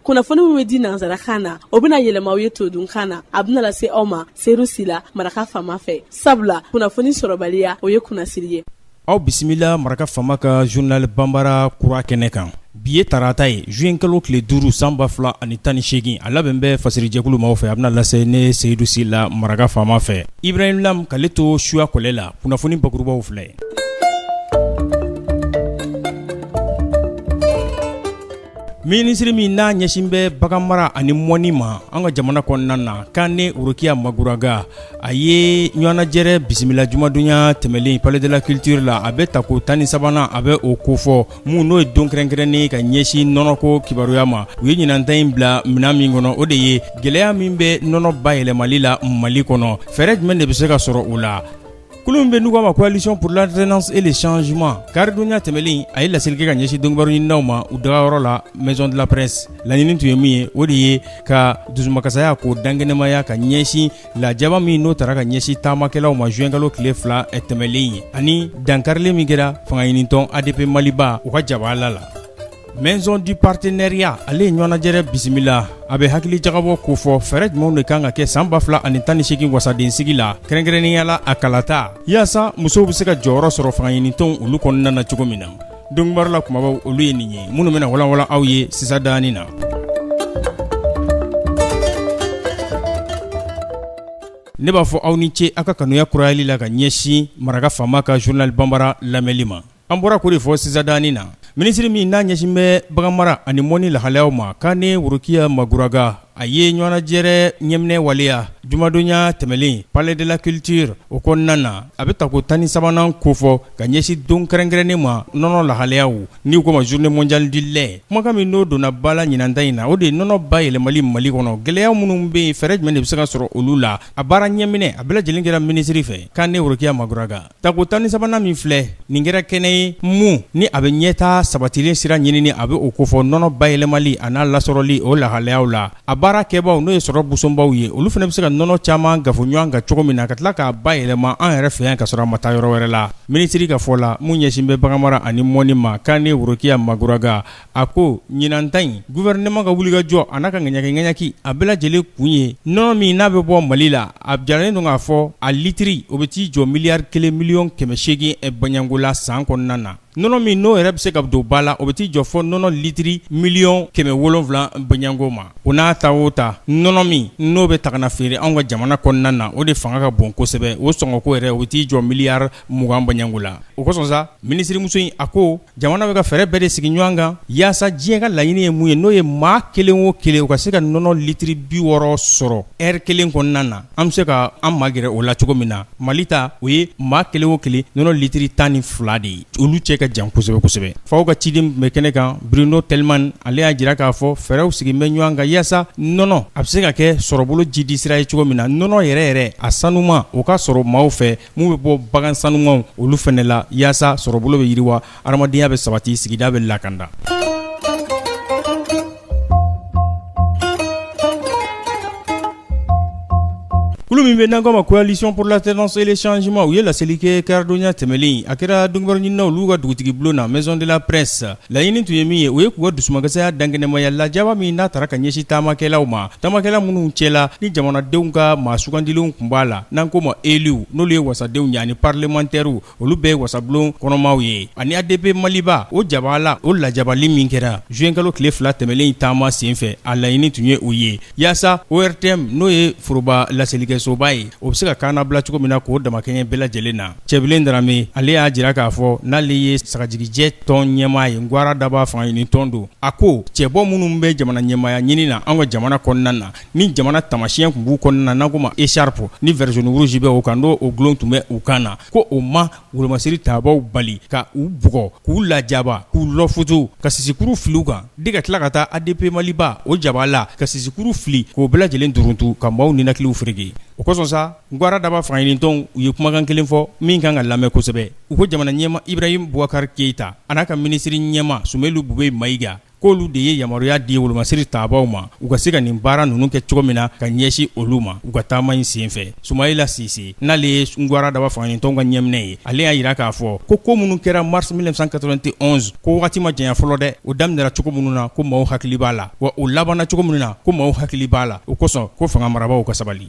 kunnafoni min bɛ di nansarakan na o bɛna yɛlɛma aw ye todunkan na a bɛna lase aw ma seyidu sila maraka faama fɛ sabula kunnafoni sɔrɔbaliya o ye kunnasiri ye aw bisimila maraka faama ka journal banbara kura kɛnɛ kan bi ye tarata ye juin kalo tile duuru san ba fila ani tan ni seegin a labɛn bɛ fasirijɛkulu maaw fɛ a bɛna lase ne seyidu sila maraka faama fɛ ibrahim lam k'ale to suya kɔlɛ la kunnafoni bakurubaw filɛ Minisiriri min n'a ɲɛsin bɛ bagan mara ani mɔni ma an ka jamana kɔnɔna na Kane Worokiya Maguraga a ye ɲɔgɔnnajɛrɛ bisimila jumadonya tɛmɛnlen palais de la culture la a bɛ tako tan ni sabanan a bɛ o kofɔ min n'o ye don kɛrɛnkɛrɛnnen ka ɲɛsin nɔnɔko kibaruya ma u ye ɲinanta in bila minɛn min kɔnɔ o de ye gɛlɛya min bɛ nɔnɔ bayɛlɛmali la mali kɔnɔ fɛɛrɛ jumɛn de bɛ se ka sɔrɔ o la Kulu min bɛ n'u k'a ma coalition pour l'alternance et le changement karidonya tɛmɛnen a ye laseli kɛ ka ɲɛsin donkibaru ɲininaw ma u dagayɔrɔ la maison de la presse laɲini tun ye min ye o de ye ka dusumakasaya k'o dankɛnɛmaya ka ɲɛsin lajaba min n'o taara ka ɲɛsin taamakɛlaw ma juin kalo tile fila tɛmɛnlen ye ani dankarili min kɛra fangaɲinitɔn adp maliba u ka jabala la Maison du partenariat ale ye ɲɔgɔnnajɛrɛ bisimila a bɛ hakilijagabɔ kofɔ fɛɛrɛ jumɛnw de kan ka kɛ san ba fila ani tan ni seegin wasadensigi la kɛrɛnkɛrɛnnenya la a kalata yaasa musow bɛ se ka jɔyɔrɔ sɔrɔ fangaɲinitɔnw olu kɔnɔna na cogo min na donkibaru la kumabaw olu ye nin ye minnu bɛna walanwalan aw ye sisan danin na ne b'a fɔ aw ni ce aw ka kanuya kurayali la ka ɲɛsin maraka faama ka journal banbara lamɛnli ma An bɔra k'o de fɔ sisan danin na, minisiri min n'a ɲɛsin bɛ bagan mara ani mɔni lahalayaw ma Kane Worokiya Maguraga, a ye ɲɔgɔnnajɛrɛ ɲɛminɛ waleya jumadonya tɛmɛnen palais de la culture o kɔnɔna na, a bɛ tako 13nan kofɔ ka ɲɛsin don kɛrɛnkɛrɛnnen ma nɔnɔ lahalayaw n'u k'o ma journée mondiale du lait, kumakan min n'o donna ba la ɲinanta in na, o de ye nɔnɔ bayɛlɛmali Mali kɔnɔ, gɛlɛya minnu bɛ yen, fɛɛrɛ jumɛn de bɛ se ka sɔrɔ olu la? A baara ɲɛminɛ, a bɛɛ lajɛlen kɛra minisiri fɛ, Kane Worokiya Maguraga. Tako tan ni sabanan min filɛ nin kɛra kɛnɛ ye min ni a bɛ ɲɛtaa sabatilen sira ɲinini a bɛ o kofɔ nɔnɔ bayɛlɛmali a n'a lasɔrɔli o lahalayaw la a baara kɛbaaw n'o ye sɔrɔ busonbaw ye olu fana bɛ se ka nɔnɔ caman kafo ɲɔgɔn kan cogo min na ka tila k'a bayɛlɛma an yɛrɛ fɛ yan ka sɔrɔ a ma taa yɔrɔ wɛrɛ la minisiri ka fɔ la min ɲɛsin bɛ bagan mara ani mɔni ma Kane Worokiya Maguraga A ko ɲinan ta in gouvernement ka wulikajɔ a n'a ka ŋaɲakiŋaɲaki a bɛɛ lajɛlen kun ye nɔnɔ min n'a bɛ bɔ Mali la a jiralen don k'a fɔ a litiri o bɛ t'i jɔ miliyari kelen miliyɔn kɛmɛ seegin baɲanko la san kɔnɔna na nɔnɔ min n'o yɛrɛ bɛ se ka don ba la o bɛ t'i jɔ fɔ nɔnɔ litiri miliyɔn kɛmɛ wolonwula baɲanko ma o n'a ta o ta nɔnɔ min n'o bɛ ta ka na feere anw ka jamana kɔnɔna na o de fanga ka bon kosɛbɛ o sɔngɔko yɛrɛ o bɛ t'i jɔ miliyari mugan baganko la o kosɔn sa minisirimuso in a ko jamana bɛ ka fɛɛrɛ bɛɛ de sigi ɲɔgɔn kan yaasa diɲɛ ka laɲini ye mun ye n'o ye maa kelen o kelen o ka se ka nɔnɔ litiri bi wɔɔrɔ sɔrɔ ɛri kelen kɔnɔna na an bɛ se ka an magɛrɛ o la cogo min na mali ta o ye maa kelen o kelen nɔnɔ litiri tan ni fila de ye olu cɛ ka jan kosɛbɛ kosɛbɛ FAO ka ciden bɛ kɛnɛ kan Bruno Telman ale y'a jira k'a fɔ fɛɛrɛw sigilen bɛ ɲɔgɔn kan yaasa nɔnɔ a bɛ se ka kɛ sɔrɔbolo jidisira ye cogo min na nɔnɔ yɛrɛ yɛrɛ a sanuman o ka sɔrɔ maaw fɛ minnu bɛ bɔ bagan sanumanw olu fɛnɛ la yaasa sɔrɔbolo bɛ yiriwa, hadamadenya bɛ sabati sigida bɛ lakanda Kulu min bɛ n'an ko ma coalition pour l'alternance et le changement u ye laseli kɛ karidonya tɛmɛnen in, a kɛra donkibaru ɲininaw olu ka dugutigibulon na maison de la presse Laɲini tun ye min ye o ye k'u ka dusumakasaya dankɛnɛmaya lajaba min n'a taara ka ɲɛsin taamakɛlaw ma taamakɛla minnu cɛ la ni jamanadenw ka maa sugandilenw tun b'a la n'an ko ma élus n'olu ye wasadenw ye ani parlementaires olu bɛɛ ye wasabulon kɔnɔmaw ye ani ADP Maliba o jabaa la o lajabali min kɛra zuwɛnkalo tile fila tɛmɛnen in taama senfɛ a laɲini tun ye o ye yaasa ORTM n'o ye foroba laselikɛsoba ye o bɛ se ka kaana bila cogo min na k'o damakɛɲɛ bɛɛ lajɛlen na Cɛbilen Darame ale y'a jira k'a fɔ n'ale ye sagajigijɛ tɔn ɲɛmaa ye Ngwara Daba fangaɲini tɔn don, a ko cɛbɔ minnu bɛ jamana ɲɛmaaya ɲini na an ka jamana kɔnɔna na, ni jamana tamasiyɛn tun b'u kɔnɔna na n'an k'o ma écharpe ni vert jaune rouge bɛ o kan n'o dulon tun bɛ u kan na, ko o ma wolomasiri tabaaw bali ka u bugɔ, k'u lajaba, k'u lɔfutu, ka sisikuru fili u kan, de ka tila ka taa ADP Maliba o jabaa la ka sisikuru fili k'o bɛɛ lajɛlen duruntu ka maaw ninakiliw fereke o kosɔn sa, Ngwara Daba fangaɲinitɔnw u ye kumakan kelen fɔ min kan ka lamɛn kosɛbɛ u ko jamana ɲɛmaa Ibrahim Boubacar Keita an'a ka minisiri ɲɛmaa Sumelu Bube Mayiga k'olu de ye yamaruya di wolomasiri tabaaw ma u ka se ka nin baara ninnu kɛ cogo min na ka ɲɛsin olu ma u ka taama in senfɛ sumayila sise n'ale ye Ngwara Daba fangaɲinitɔnw ka ɲɛminɛ ye ale y'a jira k'a fɔ ko ko minnu kɛra mars mille neuf cent quatre-vingt-onze ko waati ma janya fɔlɔ dɛ o daminɛra cogo minnu na ko maaw hakili b'a la wa o labanna cogo min na ko maaw hakili b'a la o kosɔn ko fanga marabagaw ka sabali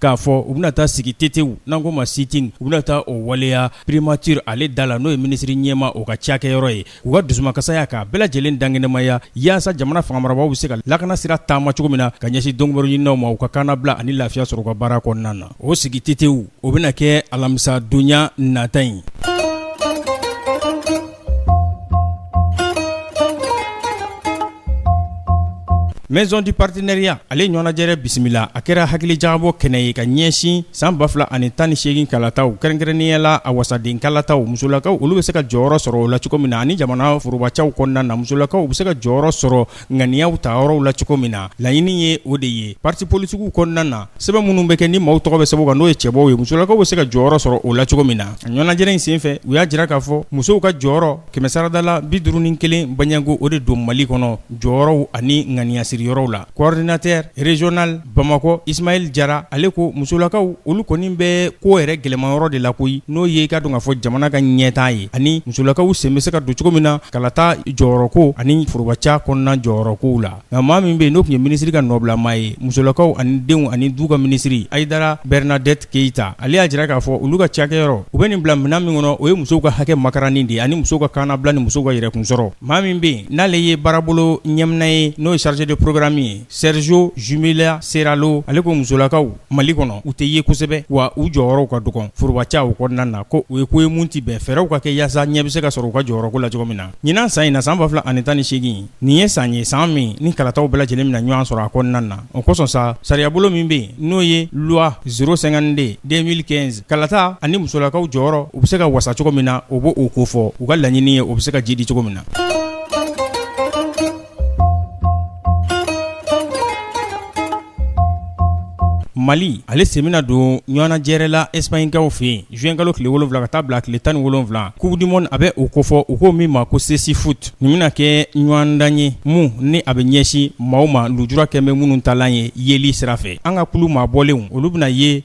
k'a fɔ u bɛna taa sigi tetew n'an ko ma sit-in u bɛna taa o waleya primature ale da la n'o ye minisiri ɲɛmaa o ka cakɛyɔrɔ ye k'u ka dusumakasaya k'a bɛɛ lajɛlen dankɛnɛmaya yaasa jamana fangamarabaaw bɛ se ka lakana sira taama cogo min na ka ɲɛsin donkibaru ɲininaw ma u ka kaanabila ani lafiya sɔrɔ u ka baara kɔnɔna na o sigi tetew o bɛna kɛ alamisa donya nata in Maison du partenariat ale ɲɔgɔnnajɛrɛ bisimila a kɛra hakili jagabɔ kɛnɛ ye ka ɲɛsin san ba fila ani tan ni segin kalataw kɛrɛnkɛrɛnnenya la a wasaden kalataw musolakaw olu bɛ se ka jɔyɔrɔ sɔrɔ o la cogo min na ani jamana forobacɛw kɔnɔna na musolakaw u bɛ se ka jɔyɔrɔ sɔrɔ ŋaniyaw ta yɔrɔw la cogo min na laɲini ye o de ye parti politiquew kɔnɔna na sɛbɛn minnu bɛ kɛ ni maaw tɔgɔ bɛ sɛbɛn o kan n'o ye cɛbɔw ye musolakaw bɛ se ka jɔyɔrɔ sɔrɔ o la cogo min na a ɲɔgɔnajɛrɛ in senfɛ u y'a jira k'a fɔ musow ka jɔyɔrɔ kɛmɛsarada la bi duuru ni kelen baɲango o de don mali kɔnɔ jɔyɔrɔw ani ŋaniyasiriyɔrɔw la coordinateur regional bamakɔ ismail jara ale ko musolakaw olu kɔni bɛ ko yɛrɛ gɛlɛmayɔrɔ de la koyi n'o ye k'a dɔn k'a fɔ jamana ka ɲɛtaa ye ani musolakaw sen bɛ se ka don cogo min na kalata jɔyɔrɔko ani forobaca kɔnɔna jɔyɔrɔkow la nka maa min bɛ yen n'o tun ye minisiri ka nɔbilamaa ye musolakaw ani denw ani du ka minisiri aidara bernadette keyita ale y'a jira k'a fɔ olu ka cakɛyɔrɔ u bɛ nin bila minɛn min kɔnɔ o ye musow ka hakɛ makaranni de ani musow ka kannabila ni musow ka yɛrɛkunsɔrɔ maa min bɛ yen n'ale ye baarabolo ɲɛmina ye n'o ye chargé de programme ye Sergio jumila seralo ale ko musolakaw mali kɔnɔ u tɛ ye kosɛbɛ wa u jɔyɔrɔw ka dɔgɔ forobaca o kɔnɔna na ko u ye ko ye minnu tɛ bɛn fɛɛrɛw ka kɛ yaasa ɲɛ bɛ se ka sɔrɔ u ka jɔyɔrɔko la cogo min na ɲinan san in na san ba fila ani tan ni seegin nin ye san ye san min ni kalataw bɛɛ lajɛlen bɛna ɲɔgɔn sɔrɔ a kɔnɔna na o kosɔn sa sariyabolo min bɛ yen n'o ye loi zéro cinquante-deux deux mille quinze kalata ani musolakaw jɔyɔrɔ u bɛ se ka wasa cogo min na o b'o kofɔ u ka laɲini ye o bɛ se ka jiidi cogo min na Mali ale sen bɛna don ɲɔgɔnajɛrɛ la ɛsipaɲikaw fɛ yen zuwɛnkalo tile wolonwula ka taa bila tile tan ni wolonwula coupe du monde a bɛ o kofɔ u ko min ma ko cécifoot nin bɛna kɛ ɲɔgɔndan ye min ni a bɛ ɲɛsin maaw ma lujura kɛ bɛ minnu talan ye yeli sira fɛ an ka kulu maabɔlen olu bɛna ye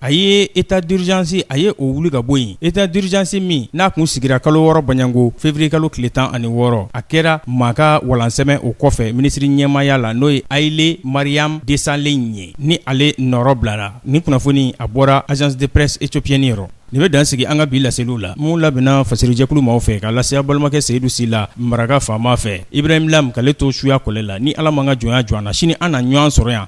a ye état d'urgence a ye o wuli ka bɔ yen état d'urgence min n'a tun sigira kalo wɔɔrɔ baɲango feburuye kalo tile tan ani wɔɔrɔ a kɛra maa ka walansɛmɛ o kɔfɛ minisiri ɲɛmaaya la n'o ye haile mariam desalegn ye ni ale nɔrɔ bilara nin kunnafoni a bɔra agence de presse éthiopienne yɔrɔ nin bɛ dan sigi an ka bi laseliw la minnu labɛnna fasirijɛkulu maaw fɛ ka lase a balimakɛ seyidu sila maraka faama fɛ ibrahim lam k'ale to suya kɔlɛ la ni ala m'an ka jɔnya jɔ an na sini an na ɲɔgɔn sɔrɔ yan